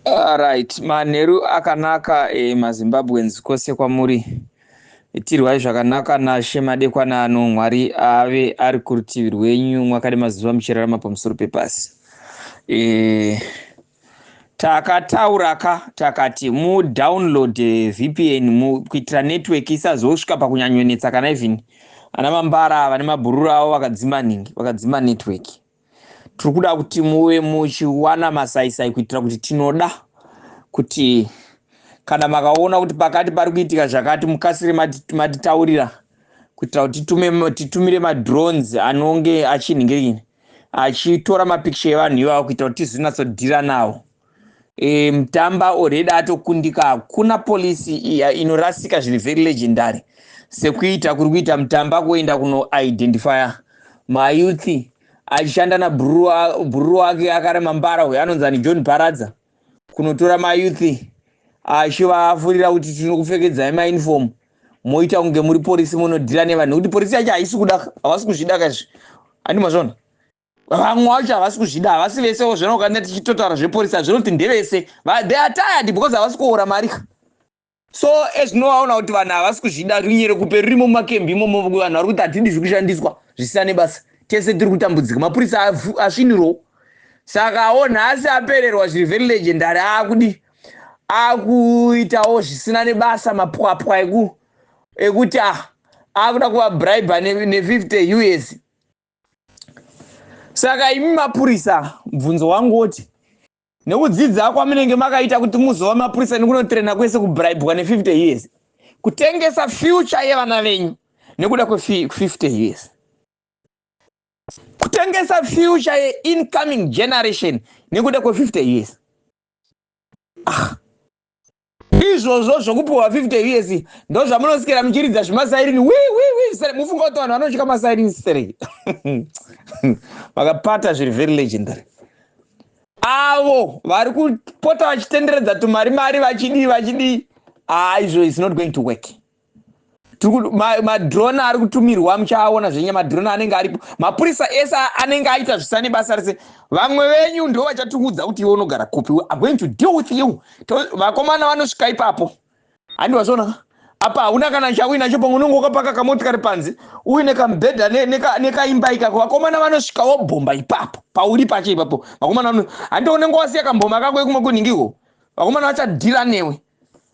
Ah, right manheru akanaka eh, mazimbabweans kwose kwamuri itirwai zvakanaka nashe madekwana ano mwari ave ari kurutivi rwenyu mwakade mazuva muchirarama pamusoro pepasi eh, takatauraka takati mudownload eh, vpn mu, kuitira network isazosvika pakunyanyonetsa kana even ana mambara vane mabhururu avo vakadzima nhingi vakadzima network tiri kuda kuti muve muchiwana masaisai kuitira kuti tinoda kuti kana makaona kuti pakati pari kuitika zvakati mukasire matitaurira kuitira kuti titumire madrones anonge achinhingirini achitora mapikicha evanhu ivavo kuitira kuti tizvinatsodhira nawo e, mtamba already atokundika hakuna polisi inorasika zviri very legendary sekuita kuri kuita mtamba kuenda kunoidentifya mayouth achishanda nabhururu wake akarema mbara uyo anonzi ani john paradza kunotora mayouth achivafurira kuti tino kupfekedzai mauniform moita kunge muri porisi munodhira nevanhu nekuti porisi yacho haisi kuda havasi kuzvidaka izvi andimazvona vamwe vacho havasi kuzvida havasi vesewo zvino ukaenda tichitotaura zveporisi hazvinoti ndevese they are tired because havasi kuora mari ka so ezvinovaona kuti vanhu havasi kuzvida runyere kupe rurimo mumakembi imomo vanhu vari kuti hatidi zviri kushandiswa zvisina nebasa tese tiri kutambudzika mapurisa asvinirwo saka wo nhasi apererwa zviri very legendary akudi akuitawo zvisina nebasa mapwapwa eku ekuti ah akuda kuvabribe ne50 us saka imi mapurisa mubvunzo wangu woti nekudzidza kwamunenge makaita kuti muzova mapurisa nekunotrena kwese kubribwa ne50 years kutengesa future yevana venyu nekuda kwe50 years kutengesa future yeincoming generation nekuda kwe50 years ah. izvozvo zvokupiwa 50 years ndozvamunosikira muchiridza zvemasairini wiwiwi mufunga kuti vanhu vanotya masairini stereki vakapata zviri very legendary avo vari kupota vachitenderedza tumari mari vachidii vachidii haa izvo is not going to work madrone ari kutumirwa muchaaona zvenya madrone anenge aripo mapurisa ese anenge aita zvisane basa rese vamwe venyu ndo vachatiudza kuti iwe unogara kupi we are going to deal with you vakomana vanosvika ipapo handi vazvona apa hauna kana chauinacho pamwe unenge wakapaka kamotikari panze uine kamubhedha nekaimba ikako vakomana vanosvika wobhomba ipapo pauri pacho ipapo vakomana handi unenge wasiya kamboma kako ekumakunhingiko vakomana vachadhira newe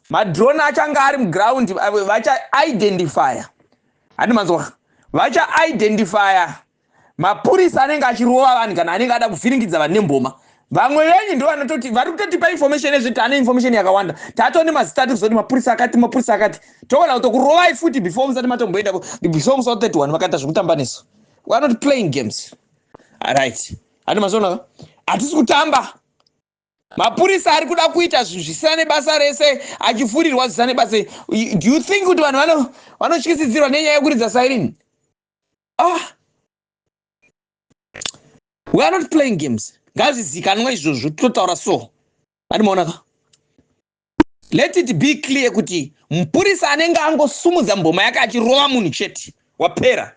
madrone achanga ari muground vachaidentifya handi manzwa vachaidentifya mapurisa anenge achirova vanhu kana anenge ada kuvhiringidza vanhu nemboma vamwe venyu ndo vanototi vari kutotipa information ezve tane information yakawanda tato nemazita tiri kuzoti mapurisa akati mapurisa akati togona kutokurovai futi before musati matomboenda before musa 31 vakaita zvekutamba nesu weare not playing games aright handi mazonaka hatisi kutamba mapurisa ari kuda kuita zvinhu zvisina nebasa rese achifurirwa zvisina nebasa do you think kuti vanhu vanotyisidzirwa nenyaya yekuridza siren ah we are not playing games ngazvizikanwa izvozvo totaura so andimaonaka Let it be clear kuti mupurisa anenge angosumudza mboma yake achirova munhu chete wapera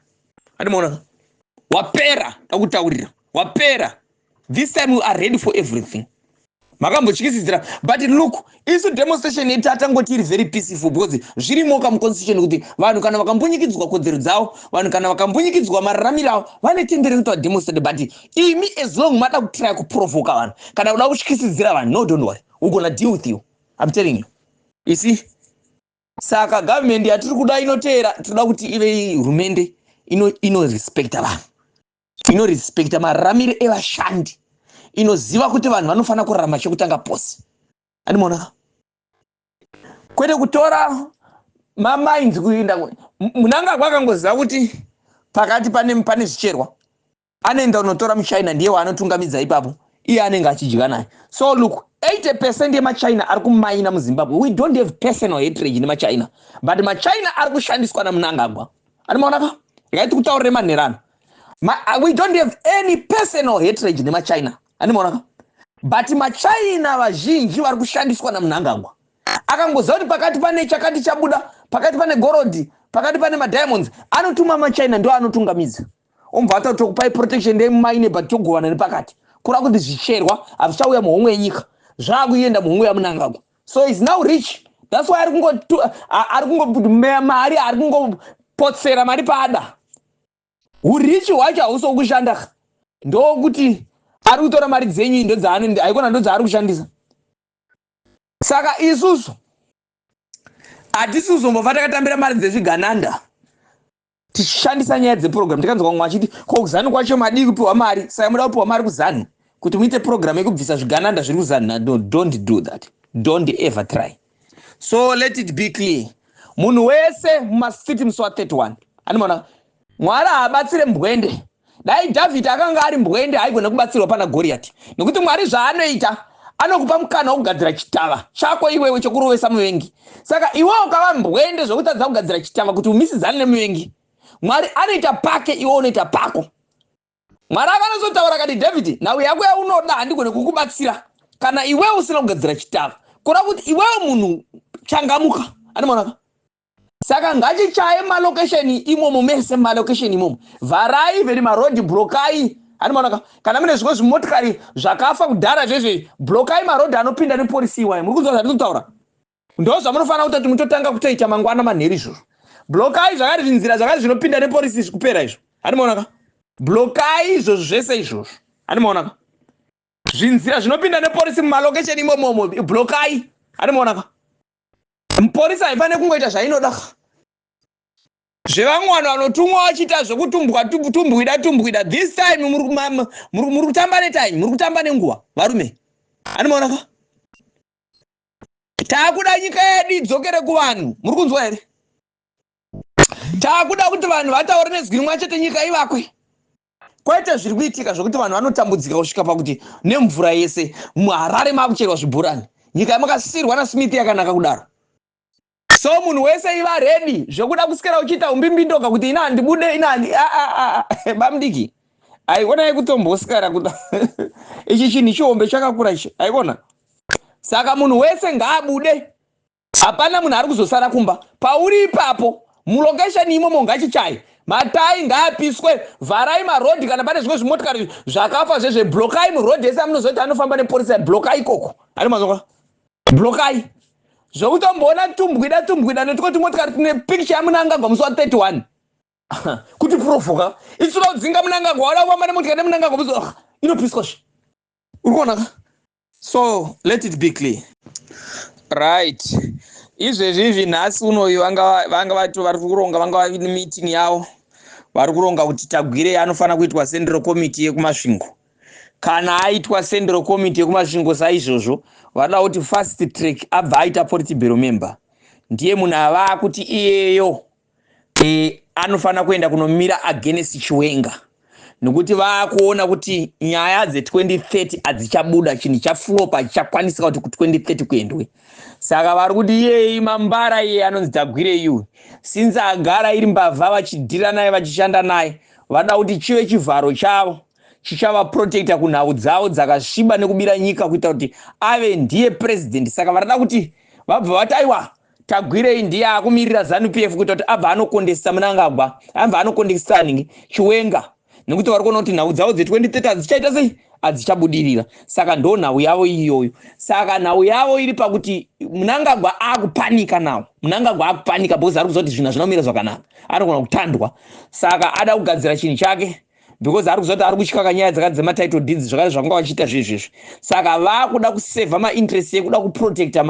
andimaona wapera akutaurira wapera this time we are ready for everything makambotyisidzira but look isu demonstration yedu tatangoti iri very peaceful because zvirimoka muconstitution kuti vanhu kana vakambunyikidzwa kodzero dzavo vanhu kana vakambunyikidzwa mararamiro avo vane tendere kuti vademonstrate but imi as long mada kutraya kuprovoka vanhu kana kuda kutyisidzira vanhu no don't worry we gonna deal with you i'm telling you you see saka government yatiri kuda inoteera tinoda kuti ive hurumende inorespecta ino vanhu inorespecta mararamiro evashandi inoziva kuti vanhu vanofanira kurarama chekutanga pose andimoona kwete kutora mamainzi kuinda munangagwa akangoziva kuti pakati pane pane zvicherwa anoenda unotora muchina ndiye waanotungamidza ipapo iye anenge achidya naye so look 80 percent yemachina ari kumaina muzimbabwe we don't have personal hatrage nemachina but machina ari kushandiswa namunangagwa ani maona ka regai tikutaurire manherano Ma, uh, we don't have any personal hatrage nemachina ani maona ka but machina vazhinji vari kushandiswa namunangagwa akangoziva kuti pakati pane chakati chabuda pakati pane gorodhi pakati pane madiamonds anotuma machina ndo anotungamidza umbva atoti tokupai protection ndei mumaine but togovana nepakati kura kuti zvicherwa hazvichauya muhomwe yenyika zvaakuenda muhomwe yamunangagwa so is now rich thats why ari kungomeya mari ari kungopotsera mari paada urichi hwacho hausi wokushanda ndokuti ari kutora mari dzenyu indo dzaanoenda haikona ndo dzaari kushandisa saka isusu hatisi kuzombofa takatambira mari dzezvigananda tichishandisa nyaya dzepurogiramu tikanzwa vamwe vachiti ko kuzanu kwacho madii kupiwa mari saka muda kupiwa mari kuzanu kuti muite purogiramu yekubvisa zvigananda zviri kuzanu no don't do that don't ever try so let it be clear munhu wese mumastreet musi wa 31 animoona mwari haabatsire mbwende Dai Dhavhidhi akanga ari mbwende haigona kubatsirwa pana Goriyati, nokuti Mwari zvaanoita anokupa mukana wokugadzira chitava chako iwewe chokurovesa muvengi. Saka iwe ukava mbwende zvokutadza kugadzira chitava kuti umisidzane nemuvengi. Mwari anoita pake, iwe unoita pako. Mwari akanatsotaura akati, Dhavhidhi, nhau yako yaunoda handigone kukubatsira kana iwewe usina kugadzira chitava. Kureva kuti iwewe munhu changamuka. Andimaonaka? saka ngatichaye malocation imomo mese malocation imomo vharai veri maroad brokai hanimaonaka kana mune zvimwe zvimotikari zvakafa kudhara zvezve brokai maroad anopinda nepolisi iwayo muri kunzwa zvandiri kutaura ndo zvamunofanira kuita kuti mutotanga kutoita mangwana manheru izvozvo blokai zvakati zvinzira zvakati zvinopinda nepolisi izvi kupera izvo hanimaonaka blokai izvozvo zvese izvozvo hanimaonaka zvinzira zvinopinda nepolisi mumalocation imomomo blokai hanimaonaka mupurisa haifane kungoita zvainoda zvevamwe vanhu vanotumwa vachiita zvekutumbwa tumbwida tumbwida this time muri kutamba netime muri kutamba nenguva varume anomaona ka taakuda nyika yedu idzokere kuvanhu muri kunzwa here taakuda kuti vanhu vataure nezwi rimwe chete nyika ivakwe kwaita zviri kuitika zvekuti vanhu vanotambudzika kusvika pakuti nemvura yese muharare makucherwa zvibhorani nyika yamakasirwa nasmith yakanaka kudaro so munhu wese iva redi zvekuda kusikira uchiita umbimbindoga kuti ina handibude inani bamdiki aiona yekutombosikara kuda ichi chinhu chihombe chakakura ichi aiona saka munhu wese ngaabude Hapana munhu ari kuzosara kumba pauri ipapo mulocation imomo ngachichaye matai ngaapiswe vharai marodhi kana pane zvimwe zvimotikari zvakafa zvezve blokai murodhi ese amunozoita anofamba neporisa blokai ikoko ari mazonga blokai zvokutomboona tumbwida tumbwida netiko tumotikari tine picture yamunangagwa musi wa 31 kuti provoka itsura udzinga munangagwa wada kufamba nemotikari nemunangagwa musi inopiswa zve uri kuonaka so let it be clear right izvezvi izvi nhasi unoyu vanga vato vari kuronga vanga vavi nemeeting yavo vari kuronga kuti tagwirei anofanira kuitwa central committee yekumasvingo kana aitwa central committee yekumasvingo saizvozvo vanoda kuti first track abva aita politibero member ndiye munhu avaa kuti iyeyo e, anofanira kuenda kunomira against chiwenga nokuti vakuona kuti nyaya dze2030 hadzichabuda chinhu chaflopa chichakwanisika kuti ku2030 kuendwe saka vari kuti iyei mambara iye anonzi tagwire iyu since agara iri mbavha vachidhira naye vachishanda naye vada kuti chive chivharo chavo chichavaprotecta kunhau dzavo dzakasviba nekubira nyika kuita kuti ave ndiye president saka varada kuti vabva vati aiwa Tagwirei ndiye akumirira Zanu PF kuita kuti abva anokondesisa Munangagwa, abva anokondesisa ningi Chiwenga nekuti vari kuona kuti nhau dzavo dze 2030 hadzichaita sei hadzichabudirira saka ndo nhau yavo iyoyo saka nhau yavo iri pakuti munangagwa akupanika nawo munangagwa akupanika because ari kuziva kuti zvinhu hazvina kumira zvakanaka anogona kutandwa saka ada kugadzira chinhu chake because ari kuzoti ari kutyaka nyaya dzakati dzematitle deeds zvakare zvakanga vachiita zvezvezvi saka vakuda kusevha mainterest yekuda kuprotecta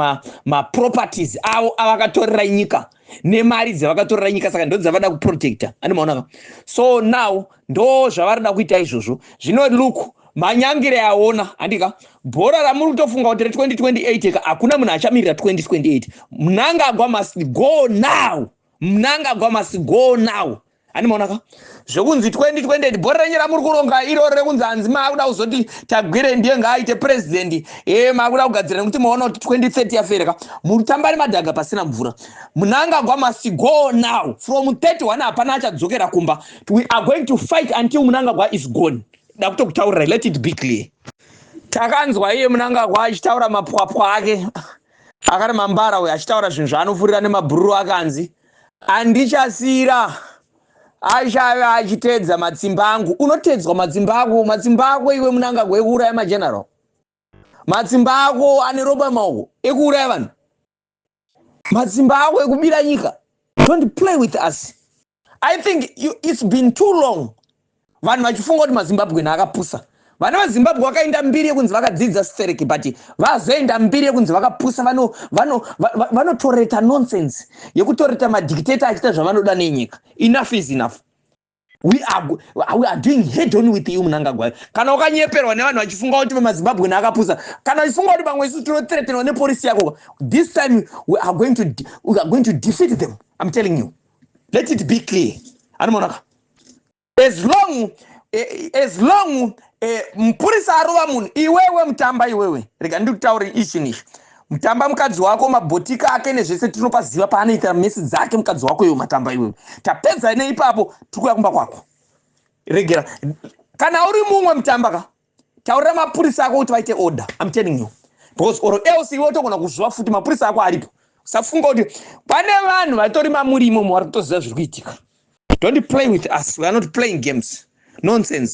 maproperties ma avo avakatorera nyika nemari dzavakatorera nyika saka ndo dzavada kuprotecta ani maonaka so now ndo zvavarida kuita izvozvo zvino luke manyangire aona handika bhora ramuri kutofunga kuti re2028 ka hakuna munhu achamirira 2028 mnangagwa must go now mnangagwa must go now handimaona ka zvekunzi 2020 bhori renyu ramuri kuronga iroro rekunzi hanzi maakuda kuzoti tagwire ndiye ngaaite president e maakuda kugadzira nekuti maona kuti 2030 yafere ka mutambari madhaga pasina mvura munangagwa must go now from 31 hapana achadzokera kumba we are going to fight until munangagwa is gone da kutokutaurira let it be clear takanzwa iye munangagwa achitaura mapwapwa ake akari mambara uyo achitaura zvinhu zvaanofurira nemabhururu akanzi Andichasira achave achitedza matsimba angu. Unotedzwa matsimba ako, matsimba ako iwe munangagwa ekuuraya mageneral. Matsimba ako ane ropa maoko ekuuraya vanhu. Matsimba ako ekubira nyika. Don't play with us. I think you, it's been too long vanhu vachifunga kuti mazimbabwean akapusa vana vazimbabwe vakaenda mbiri yekunzi vakadzidza stereki but vazoenda mbiri yekunzi vakapusa vanotoreta nonsense yekutoreta madictator achiita zvavanoda nenyika enough is enough we are, we are doing head on with you munangagwayo kana ukanyeperwa nevanhu vachifunga kuti vemazimbabwe neakapusa kana vachifunga kuti vamwe isu tinotretenwa nepolisi yako this time we are going to, we are going to defeat them i'm telling you let it be clear anomonaka as long eh, as long eh, mupurisa arova munhu iwewe mutamba iwewe rega ndikutaure ichi nichi mutamba mukadzi wako mabhotika ake nezvese tinopaziva paanoita mesi dzake mukadzi wako iwe matamba iwewe tapedza neipapo tikuya kumba kwako regera kana uri mumwe mutamba ka Taurira mapurisa ako kuti vaite order. I'm telling you. Because or else iwe utogona kuzviwa futi mapurisa ako aripo. Usafunga kuti pane vanhu vatori mamuri imomo vari kutoziva zviri kuitika. Don't play with us. We are not playing games. Nonsense.